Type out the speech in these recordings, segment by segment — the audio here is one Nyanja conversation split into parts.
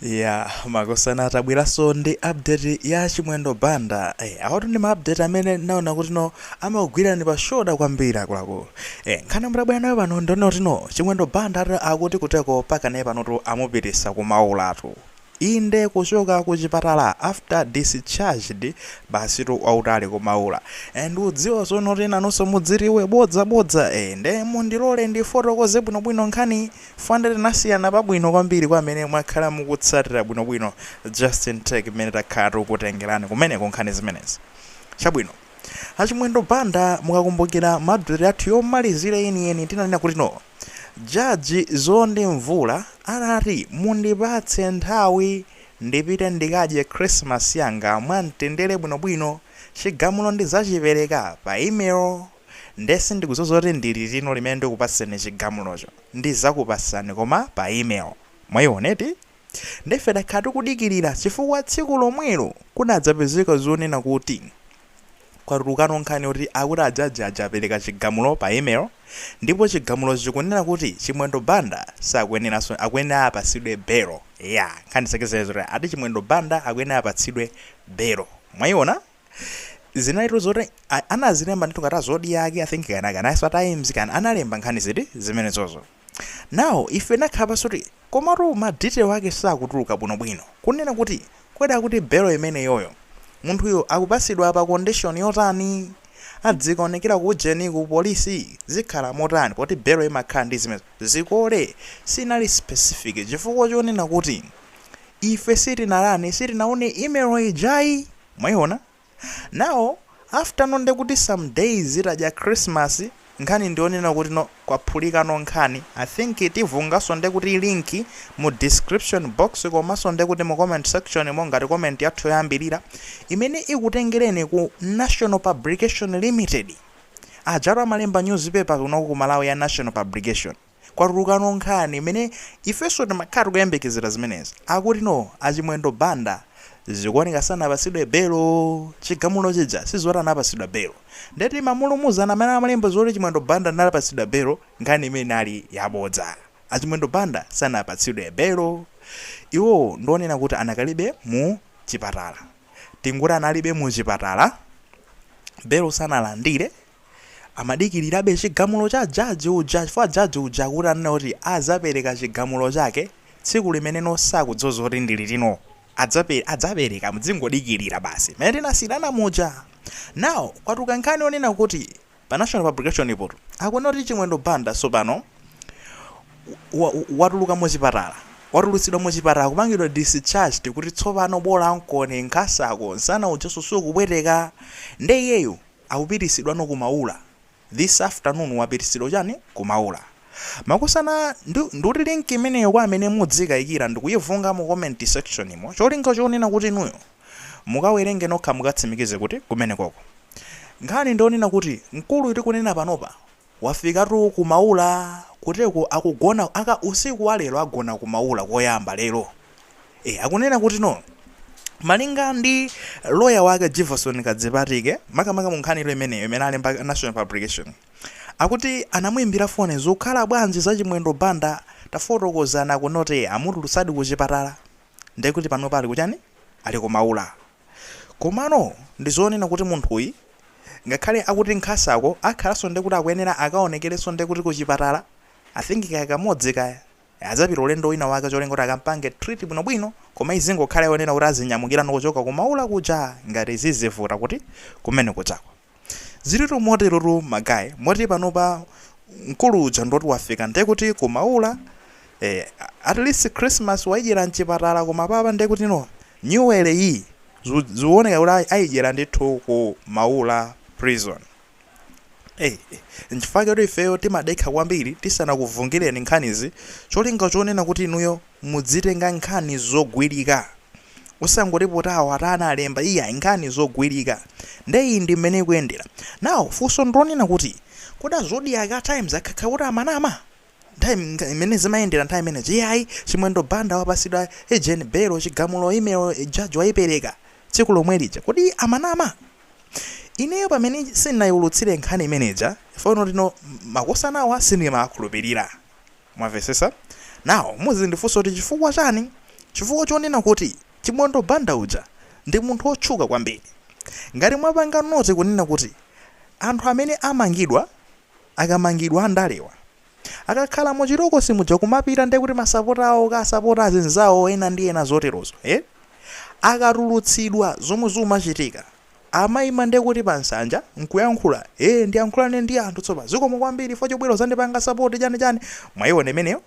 Yeah, makosana atabweraso ndi update ya Chimwendo Banda. Eh, awatu ndi ma update amene naona kuti no amagwira ni pa shoulder kwambiri akuluakulu. Eh, nkhani mwabwera nayo pano ndi yonena kuti no Chimwendo Banda ati akuti kuteko pakanali panotu amupititsa ku Maulatu. Inde kuchoka ku chipatala after discharged basitu wautali ku Maula. And mudziwa zonena kuti nanunso mudziwe bodza bodza eh nde mundilole ndifotokoze bwinobwino nkhani yonse tinasiyana pabwino kwambiri kwa amene mwakhala mukutsatira bwino bwino justin take mmene takhala tikukutengerani kumeneko nkhani zimenezi chabwino a chimwendo banda mukakumbukira mu update yathu yomalizira yeniyeni tinanena kuti no judge Nzondi Mvula anati mundipatse nthawi ndipite ndikadye christmas yanga mwamtendere bwino bwino chigamulo ndidzachipereka pa email Nde sindikudziwa zoti ndi liti limene ndikupatseni chigamulocho. Ndidzakupatsani koma pa email. Mwayiona eti? Nde ife takhala tikudikilira chifukwa tsiku lomwelo kunadzapezeka zonena kuti kwatulukano nkhani yoti akuti a judge aja apereka chigamulo pa email ndipo chigamulocho chikunena kuti Chimwendo Banda sakuyeneranso akuyenera apatsidwe belo. Eya nkhani zake zinali zoti ati Chimwendo Banda akuyenera apatsidwe belo. Mwayiona? zinalitu zoti a- anazilemba ndithu ngati a Zodiak i think kana kanaso times kana analemba nkhani ziti zimenezozo now ife tinakhala pansi kuti komatu ma detail wake sakutuluka bwinobwino kunena kuti kodi akuti belo imeneyoyo munthuyo akupatsidwa pa condition yotani adzikaonekera ku ujeni ku polisi zikhala motani poti belo imakhala ndi zimene zikole sizinali specific chifukwa chonena kuti ife sitinalani sitinaone email ijayi Mwaiona? Now after no ndekuti some days titadya Christmas nkhani ndiyonena kuti no kwaphulikano nkhani I think tiyikanso ndekuti link mu description box komanso ndekuti mu comment section-mo ngati comment yathu yoyambilira imene ikutengereni ku National Publication Limited ajatu amalemba newspaper kuno ku Malawi ya National Publication kwatulukano nkhani imene ifenso timakhala tikuyembekezera zimenezi akuti no achimwendo banda zikuoneka sanapatsidwe belo chigamulo chija sizoti anapatsidwa belo nde timamulumuzana amene amalemba zoti chimwendo banda anapatsidwa belo nkhani imeneyi inali yabodza achimwendo banda sanapatsidwe belo iwowo ndionena kuti anakali be mu chipatala tingoti anali be mu chipatala belo sanalandile Amadikilirabe chigamulo cha judge uja chifukwa judge uja akuti ananena kuti azapereka chigamulo chake tsiku limeneno sakudziwa zoti ndi liti no Adzape, adzapereka mudzingodikilira basi mmene tinasiyirana muja now kwatuluka nkhani yonena kuti pa National Publication po akunena kuti Chimwendo Banda tsopano wa, wa, watuluka muchipatala watulutsidwa muchipatala kupangidwa discharged kuti tsopano bolan'koni nkhasako nsana ujanso sukupweteka nde iyeyu akupitisidwano ku Maula this afternoon wapitisidwa chani ku Maula makosana ndi ndikuti link imeneyo kwa amene mudzikayikira ndikuyivunga mu comment section mo cholinga chonena kuti inuyo mukawerenge nokha mukatsimikize kuti kumenekoko nkhani ndiyonena kuti mkuluyi tikunena panopa Wafikatu ku Maula kuteroko akugona aka usiku wa lero agona ku Maula koyamba lero. E, akunena kuti no malinga ndi loya wake Jivason Kadzipatike makamaka mu nkhani ilo imeneyo imene alemba National Publication akuti anamuimbira foni zikukhala bwanji za Chimwendo Banda tafotokozana kunoti amutulutsadi ku chipatala ndekuti panopa ali kuchani ali ku Maula. Komano ndi zonena kuti munthuyi ngakhale akuti nkhasako akhalanso ndekuti akuyenera akaonekerenso ndekuti ku chipatala I think kaya kamodzi kaya adzapita ulendo wina wake cholinga kuti akampange treat bwinobwino koma izingokhala yonena kuti azinyamukirano kuchoka ku Maula kuja ngati zizivuta kuti kumene kujako Zilitu moterotu ma guy moti panopa mkulu uja ndoti wafika ndekuti ku Maula eh, at least Christmas waidyera mchipatala koma apapa ndekuti no nyuwele yi zu- zioneka kuti ai- aidyera ndithu ku Maula prison. Hey, nchifukwa choti ifeyo timadekha kwambiri tisanakuvungireni nkhanizi cholinga chonena kuti inuyo Mudzitenga nkhani zogwirika osangoti poti awo ati analemba iyayi nkhani zogwirika nde iyi ndi mmene ikuyendera now funso ndilonena kuti kodi a Zodiak a Times akhakha kuti amanama nthawi mmene zimayendera nthawi imeneja iyayi Chimwendo Banda wapasidwa ujeni belo chigamulo email judge wayipereka tsiku lomwelija kodi amanama ineyo pamene sindinayiwulutsile nkhani imeneyija chifukwa ndinoti no makosanawa sindimawakhulupirira. Mwamvetsetsa? Now muzindifunsa kuti chifukwa chani? Chifukwa chonena kuti Chimwendo Banda uja ndi munthu otchuka kwambiri. Ngati mwapanga note kunena kuti anthu amene amangidwa akamangidwa andalewa akakhala mu chitokosi muja kumapita nde kuti masapota awo kukasapota azinzawo ena ndi ena zoterozo eh akatulutsidwa zomwe zumachitika Amaima nde kuti pa nsanja nkuyankhula ee ndiyankhulane ndi anthu tsopano zikomo kwambiri chifukwa chobwera kuzandipanga support chani chani mwaiona imeneyo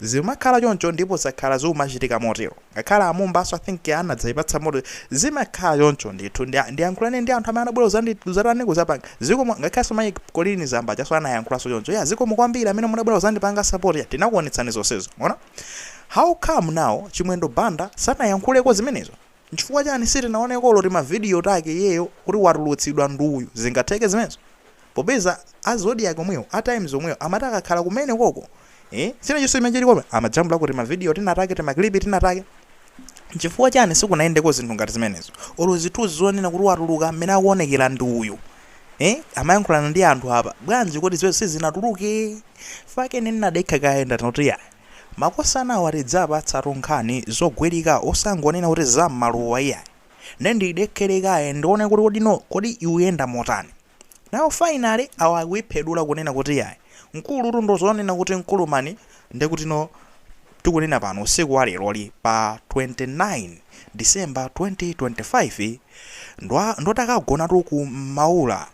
zimakhala choncho ndipo zakhala zikumachitika motero ngakhale a Mumbaso I think anadzaipatsa moto zimakhala choncho ndithu nde ndiyankhulane ndi anthu amene anabwera kuzandi kuzatani kuzapanga zikomo ngakhalenso mai Colleen Zamba ajaso anayankhulanso choncho ya zikomo kwambiri amene munabwera kuzandipanga support ya tinakuonetsani zonsezo mwaona how come now Chimwendo Banda sanayankhuleko zimenezo Nchifukwa chani sitinaoneko olo timavidiyo take iyeyo kuti watulutsidwa ndi uyu? Zingatheke zimenezo? Popeza a Zodiak omwewo, a Times omwewo amati akakhala kumene koko eeh china chonse chimene chiliko pamenepo amajambulako timavidiyo tinatake, timaklipi tinatake. Nchifukwa chani sikunayendeko zinthu ngati zimenezo? Olo zithuzi zonena kuti watuluka mmene akuonekera ndi uyu eeh amayankhulana ndi anthu apa, bwanji kodi zimenezo sizinatuluke? Chifukwa chake ine ndinadekha kaye ndanena kuti iyaa. Makosanawa tidzawapatsatu nkhani zogwirika osangonena kuti za mmaluwa iyayi. Nde ndidekhere kaye ndione kuti kodi no kodi ikuyenda motani. Now finally awa akuiphedula kunena kuti iyayi mkulutu ndo zonena kuti mkulu mani nde kuti no tikunena pano usiku wa leroli pa 29 December 2025 ndo ndo takagonatu ku Maula.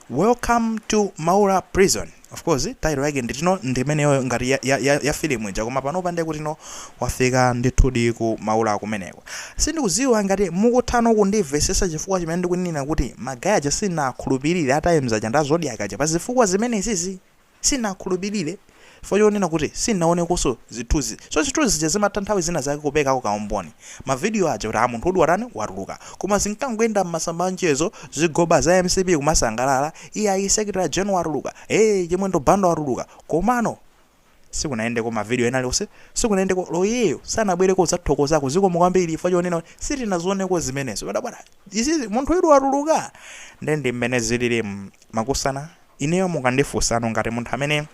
Welcome to Maula Prison. Of course, title yake nde kuti no ndimeneyo ngati ya, ya, ya, ya film ija koma panopa ndiye kuti no wafika ndithudi ku Maula kumeneko. Sindikudziwa ngati mukuthano kundimvesesa chifukwa chimene ndikunena kuti magaya aja sindinakhulupirire a Times aja ndi a Zodiac aja pa zifukwa zimenezizi. Sindinakhulupilire chifukwa chonena kuti sindinaonekonso zithunzi so zithunzi zija zimatha nthawi zina zake kuperekako kaumboni ma video aja kuti a munthu udi watani watuluka koma zinkangoyenda mmasamba anchezo zigoba za mcp kumasangalala iyayi secretary general watuluka ee chimwendo banda watuluka komano sikunayendeko ma video ena aliwonse sikunayendeko loyeyo sanabwereko kudzathokozako zikomo kwambiri chifukwa chonena kuti sitinazioneko zimenezo padabwada izizi munthu udi watuluka nde ndimmene zililimu makosana Ineyo mukandifunsano ngati munthu amene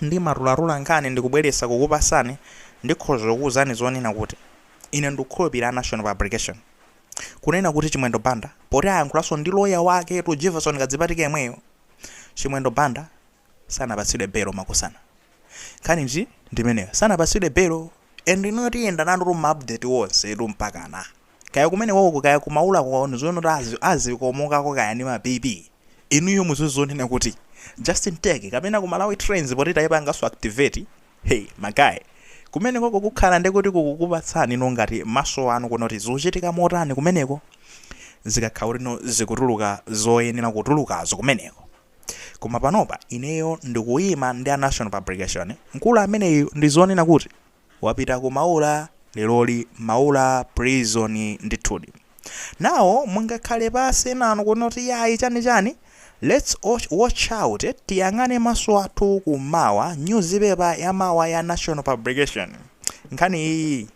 ndimatulatula nkhani ndikubweretsa kukupasani ndikhoza kukuuzani zonena kuti ine ndikukhulupilira National publication kunena kuti Chimwendo Banda poti ayankhulanso ndi loya waketu Jefferson Kadzipatike yemweyo Chimwendo Banda sanapatsidwe belo makosana nkhani nji ndimeneyo sanapatsidwe belo and inuyo tiyenda nanutu ma update wonsetu mpakana Kaya kumenekoko kaya ku maulako kwaoneka zonena kuti azikomokako kaya ndi ma BP. Inuyo muziwe zonena kuti Justin Tech kapena ku Malawi Trends poti taipanganso activate. Hey ma guy. Kumenekoko kukhala nde kuti kukukupatsani no ngati maso anu kuona kuti zikuchitika motani kumeneko. Zikakhala kuti no zikutuluka zoyenera kutulukazo kumeneko. Koma panopa ineyo ndikuima ndi a National Publication. Mkulu ameneyu ndi zonena kuti. Wapita ku Maula leroli Maula prison ndithudi. Now mungakhale pasi enanu kunena kuti yayi chani chani lets watch out eti tiyang'ane maso athu ku mawa news paper ya mawa ya national publication nkhani iyiyi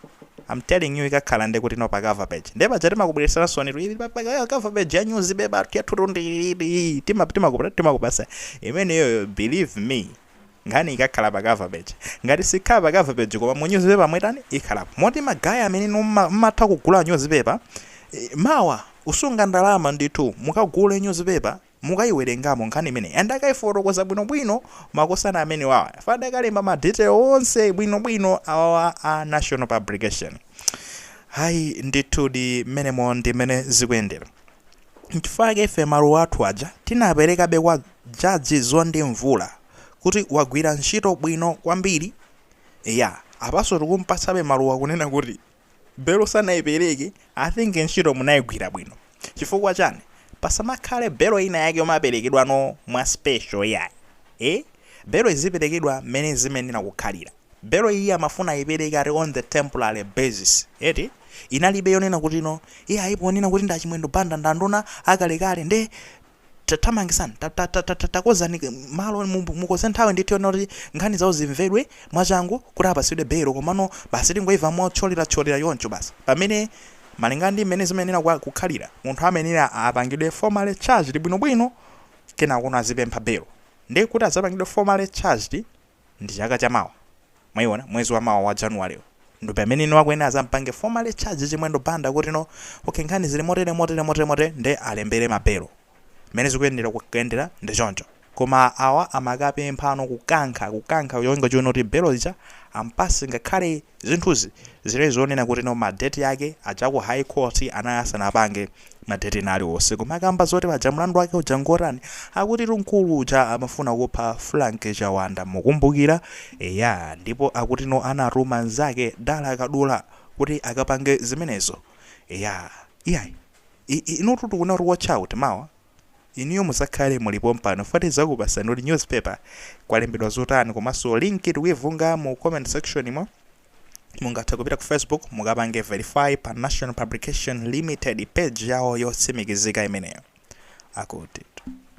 am telling you ikakhala nde kuti no pa cover page nde paja timakubwereseransoni tu ili pa pa- cover page ya news paper yathu tu ndi ili tima timakupasa timakupasa imeneyo believe me nkhani ikakhala pa cover page ngati sikhala pa cover page koma mu newspaper mwetani ikhalapo moti magaya amene inu mma- mmatha kugula newspaper eh, mawa musunge ndalama ndithu mukagule newspaper mukayiwerengamo nkhani imene and akayifotokoza bwinobwino makosana amenewawa chifukwa akalemba ma detail onse bwinobwino awawa a national publication ayi ndithudi mmenemo ndi mmene zikuyendera Nchifukwa chake ife maluwa athu aja tinaperekabe kwa Judge Mzondi Mvula kuti wagwira ntchito bwino kwambiri. Eya, apanso tikumpatsabe maluwa kunena kuti belo sanaipereke, I think ntchito munaigwira bwino. Chifukwa chani? Pasamakhale belo ina yake yomaperekedwano mwa special iyayi. Eeh? Belo iziperekedwa mmene zimayenera kukhalira. Belo iyi amafuna ayipereke ati on the temporary basis eti, inalibe yonena kuti no iyayi ponena kuti ndi a Chimwendo Banda ndi anduna akalekale nde tathamangisani takonzani malo mukonze nthawi ndithu yonena kuti nkhani zawo zimvedwe mwachangu kuti apatsidwe belo komano basi tingoimva mothyolerathyolera choncho basi pamene malingana ndi mmene zimayenera kukhalira munthu amayenera apangidwe formally charged bwinobwino kenakono azipempha belo nde kuti adzapangidwe formally charged Ndi chaka cha mawa. Mwaiwona? Mwezi wa mawa wa January uwu. Ndo pameneno akuyenera azampange formally charge Chimwendo Banda kuti no, okay nkhani zili motere, motere, motere, motere nde alembere ma belo. Mmene zikuyenera kukayendera ndi choncho. Koma awa amakapemphano kukankha, kukankha cholinga chonena kuti belo ija ampase ngakhale. Zinthuzi zinali zonena kuti no ma date ake aja ku high court anali asanapange ma date ena aliwonse koma akamba zoti paja mlandu wake uja ngotani akutitu mkulu uja amafuna kupha Frank Chawanda mukumbukira eya ndipo akuti no anatuma nzake Dala Kadula kuti akapange zimenezo eya iyayi inutu tikunena kuti watch out mawa Inuyo muzakhale muli pompano chifukwa tizakupasani kuti news paper kwalembedwa zotani komanso link tikuivunga mu comment section mo mungathe kupita ku facebook mukapange verify pa national publication limited page yawo yotsimikizika imeneyo akuti